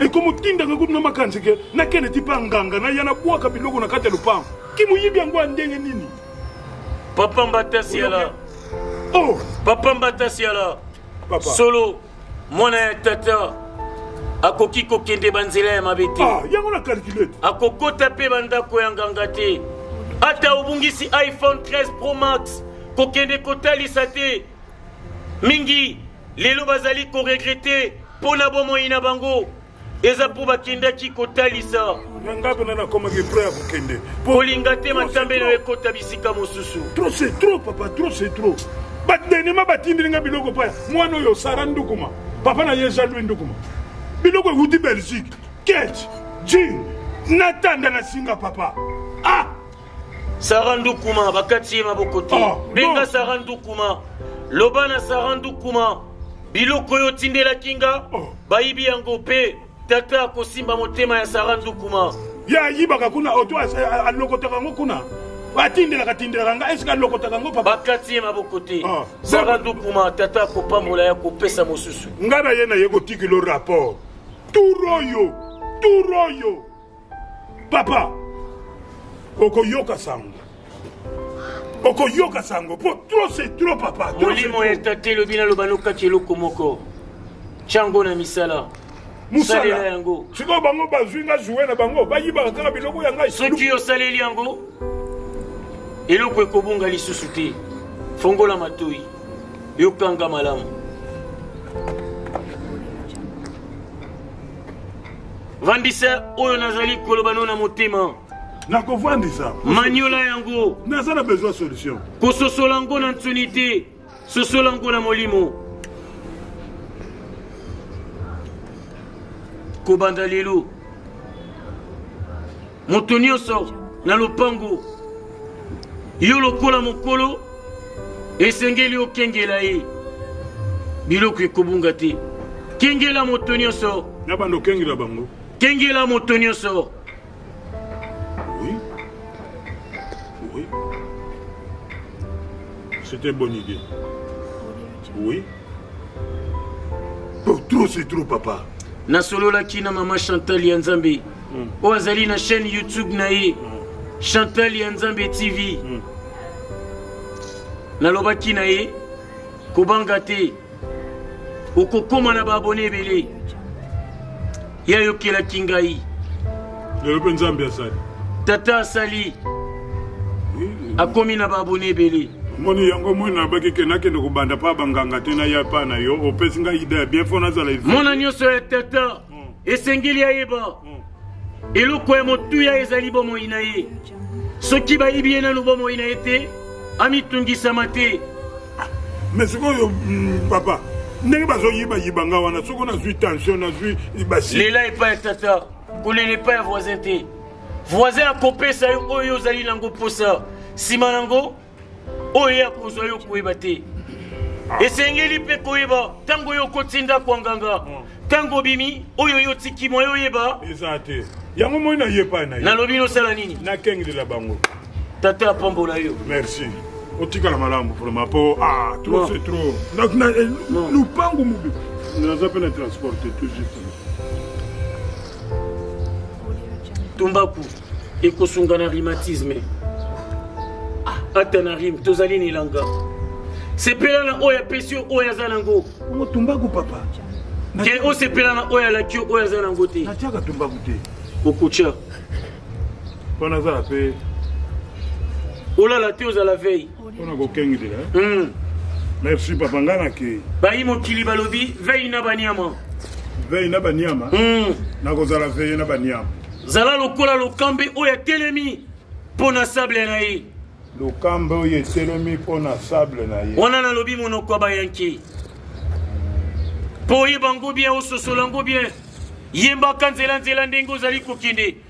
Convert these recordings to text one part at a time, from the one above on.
ekotindaka kutu na makanisi ke nakende ti mpe nganga naya nabwaka biloko na kati ya lopango kimoyibi yango ya ndenge nini papa mbata siala oh! papa mbata siala solo mwana ya tata akoki kokende banzela ya mabe te ah, akokota mpe bandako ya nganga te ata obungisi iphone 13 pro max kokende kotalisa te mingi lelo bazali koregrete mpo na bomoi na bango eza mpo bakendaki kotalisa na ngai mpena nakomaki epre ya kokende kolinga te matambe nayo ekota bisika mosusu trop c'est trop papa trop c'est trop badenema batindeli ngai biloko mpo mwana oyo sara ndukuma papa na ye jean louis ndukuma biloko ewuti belgique kech jin natanda na singa papa ah sara ndukuma bakati ye maboko te ah, benga sara ndukuma loba na sara ndukuma biloko oyo otindelaki nga ah. bayibi yango mpe tata akosimba motema ya sara ndukuma ye ayibaka kuna oto alokotaka yango kuna atindelaka tindelaka nga esika alokotaka yango papa bakati ye maboko te ah. sara ndukuma tata akopambola ya kopesa mosusu ngai na ye na ye kotikilo rapport tur oyo tur oyo papa okoyoka sango okoyoka sango po trop c'est trop papa molimo ya tata elobi naloba nokaki eloko moko tyango na misala mosalela yango sikoyo bango bazwi nga joue na bango bayibaka kaka biloko ya ngai soki osaleli yango eloko ekobunga lisusu te fongola matoi yokanga malamu vandisa oyo nazali koloba no na motema nakovandisa maniola yango naza na besoin solution kososola yango na nsoni te sosola yango na molimo kobanda lelo moto nyonso na lopango yo lokola mokolo esengeli okengela ye biloko ekobunga te kengela moto nyonso na banda okengela bango kengela moto nyonso oui. oui. c'était bonne idée oui trop c'est trop papa nasololaki na mama chantal ya nzambe mm. oyo azali na chaîne youtube na ye mm. chantal ya nzambe tv mm. nalobaki na ye kobanga te okokóma na baabone ebele ye ayokelaki ngai lelo mpe nzambe asali tata asali akomi na baabone ebele moni yango moi nabaki ke nakende kobanda mpa banganga te naya mpa na yo opesi ngai ide ya bien mpo nazala mona nyonso ya tata hmm. esengeli ayeba eloko ya motuya ezali bomoi na ye soki bayebi ye nanu bomoi na ye te amitungisama te mais sikoyo mm, papa ndenge bazoyibayiba nga wana soko nazwi tension nazwi basi lela epai ya tata kolela epai ya voisin te voisin akopesa yo oyo ozali nango mposa nsima nango oyo ye akozwa yo koyeba te ah. esengeli mpe koyeba ntango yo okoti ndako ya nganga ah. ntango obimi oyo yo otiki mwa yo oyeba eza te yango moi nayepa na ye nalobi nosala nini nakengelela bango tata apambola yo merci otikala malamu vraimen mpo ah, trop c'est trop eh, lupangu mobi naza mpe na transporte tout juste tumbaku ekosunga na rhumatisme ah, ata na rime tozali na elanga sepela na oyo apesi yo oyo aza nango tumbaku papa ke osepela na oyo alaki yo oyo aza nango te natiaka tumbaku te okutya mpona azala mpe olala te ozala veille mpona kokengelela eh? hmm. merci papa ngai nakei bayi mokili balobi vei na baniama vei na baniama hmm. nakozala veye na baniama zala lokola lokambe oyo atelemi mpo na sable na ye lokambe oyo etelemi mpo na sable na ye wana nalobi monoko ya bayanki mpo oyeba yango bien ososola yango bien yembaka nzelanzela ndenge ozali kokende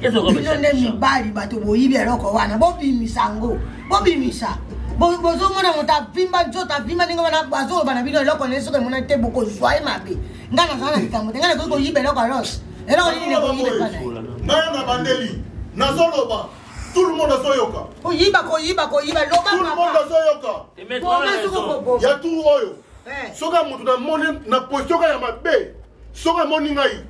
bino nde mibali bato boyibi eloko wana bobimisa yango bobimisa bozomona moto avimba nzoto avimba ndenge wana bazoloba na bino eloko naye soki emonani te bokozwa ye mabe ngai nazala na likambo te ngai nakoki koyiba eloko alos eloko nini ekoyiba ngai na bandeli nazoloba tout le monde azoyoka koyiba koyiba koyiba loba tout le monde azoyoka ya tour oyo eh. soki moto namoni na position kaka ya mabe soki amoni ngai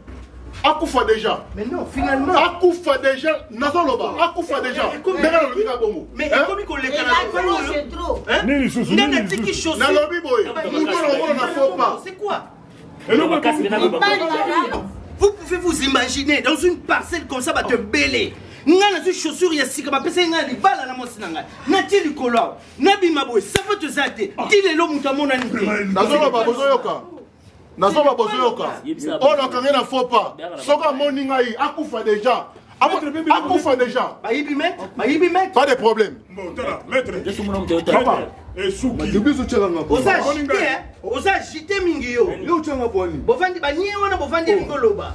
akufa deja mais non finalement akufa deja nazoloba akufa deja ndenge nalobi nga bongo mais ekomi koleka na nini lisusu ndenge atiki chose nalobi boye moto nakomona na faux pas c'est quoi eloko vous pouvez vous imaginer dans une parcelle comme ça bato ebele ngai nazwi chaussure ya sika bapesaki ngai ya libala na mwasi na ngai natie likolo awa nabima boye sapato eza te ti lelo moto amonani te nazoloba bozoyoka nazoba bozoyoka oyo nakange na faux pas soki amoni ngai akufa déjà akufa déjà pas de problème oza agite mingi yo bovandi banie wana bovandi elingi oloba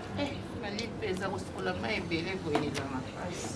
eza kosukola mai ebele boye na makasi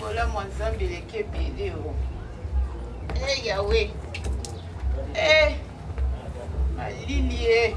bolamu ya nzambe eleki ebele o e eh, yawe e eh, malili e eh.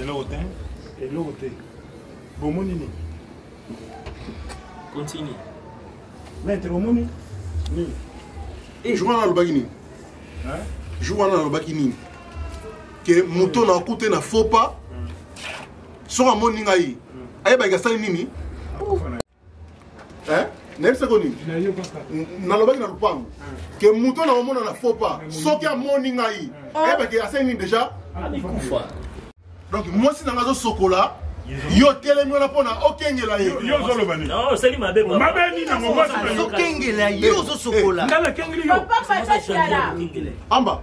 eloko te eloko te bomoni nini continue maître bomoni nini eh, jour wana alobaki nini jour wana alobaki nini ke moto na akute na faux pas soki amoni ngai ayebaki asali nini eh? nayebisa ko nini nalobaki na lopango ke moto na omona na faux pas soki amoni ngai ayebaki ah. asengi nini déjà donc mwasi na ngai azosokola yo telemi wana mpona okengela ye yo ozoloba nini osali mabe mabe nini yango okengela ye ozosokola amba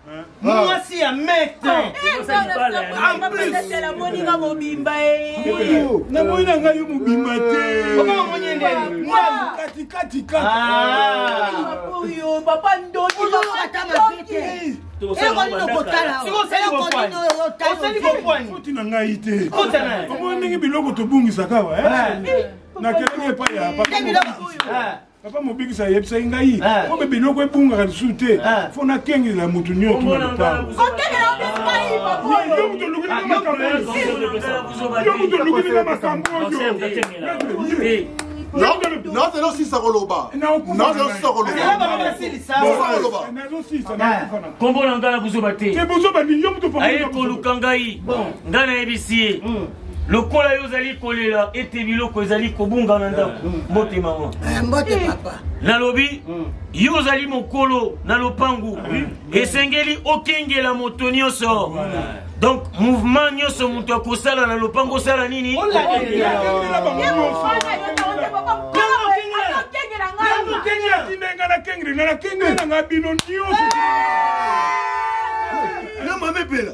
mwasi ya mete moninga mobimba namoni na ngai yo mobimba te katikatikatikaoyo papa ndondiokotalaosali na ngai te omoni ndenge biloko tobungisaka wa nakelaki epai ya papa papa mobikisi ayebisaki ngai eh. obe biloko ebungaka lisusu te eh. fo nakengela moto nyonsoyomutuolukininga makambo nazela osisa koloba nazela osisa kolobaakombo na ngai na buzoba te aye koluka ngai ngai nayebisi ye lokola yo ozali kolela ete biloko ezali kobunga na ndako eh, eh. mbote mama eh, mbote papa nalobi hmm. yo ozali mokolo na lopangu hmm. esengeli okengela moto nyonso donc mouvement nyonso moto akosala na lopango osala nini atindenga na kengeli na nakengeli na nga bino nyonso na mame mpela